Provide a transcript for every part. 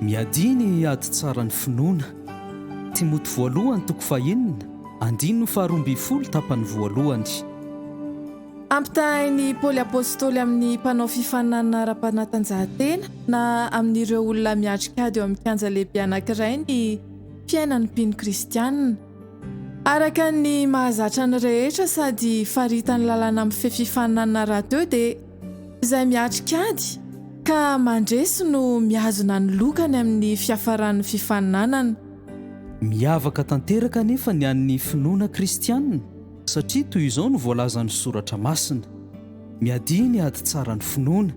Miadia ny ady tsara ny finoana. Timoty voalohany toko fahenina, andininy faharoa ambin'ny folo tapany voalohany. Ampitahain'i Paoly Apostoly amin'ny mpanao fifaninanana ara-panatanjahantena na amin'ireo olona miatrika ady eo amin'ny kianja lehibe anankiray ny fiainan'ny mpino kristiana. Araka ny mahazatra ny rehetra sady faritan'ny lalàna mifehy fifaninanana rahateo dia. Izay miatrika ady ka mandresy no mihazona ny lokany amin'ny fiafaran'ny fifaninanana. Miavaka tanteraka anefa ny an'ny finoana kristianina, satria toy izao no voalazan'ny Soratra Masina, Miadia ny ady tsara ny finoana.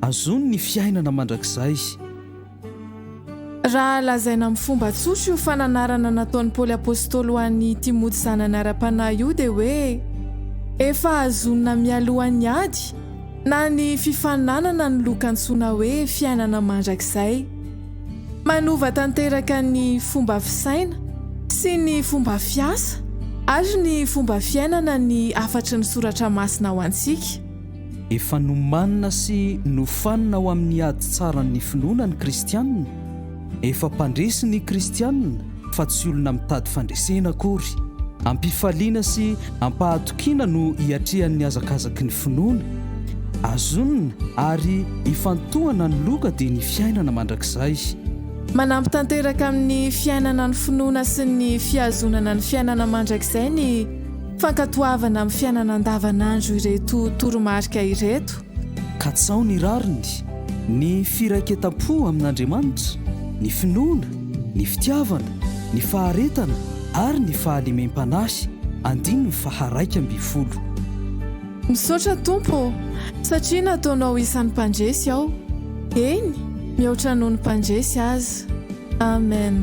Azony ny fiainana mandrakizay. Raha lazaina amin'ny fomba tsotra io fananarana nataon'i Paoly Apostoly ho an'i Timoty zanany ara-panahy io dia hoe efa hazonina mialohan'ny ady na ny fifaninanana ny loka antsoina hoe fiainana mandrakizay. Manova tanteraka ny fomba fisaina sy ny fomba fiasa ary ny fomba fiainana ny hafatry ny Soratra Masina ho antsika. Efa nomanina sy nofanina ho amin'ny ady tsaran'ny finoana ny Kristianina. Efa mpandresy ny Kristianina, fa tsy olona mitady fandresena akory. Am-pifaliana sy am-pahatokiana no hiatrehan'ny hazakazaky ny finoana. Azonina àry ifantohana ny loka dia ny fiainana mandrakizay. Manampy tanteraka amin'ny fiainana ny finoana sy ny fihazonana ny fiainana mandrakizay ny. Fankatoavana amin'ny fiainana andavanandro ireto toromarika ireto. Katsaho ny rariny, ny firaiketam-po amin'Andriamanitra, ny finoana, ny fitiavana, ny faharetana ary ny fahalemem-panahy, andininy faha-raika ambin'ny folo. Misaotra Tompo ô, satria nataonao isan'ny mpandresy aho, eny, mihoatra noho ny mpandresy aza. Amen.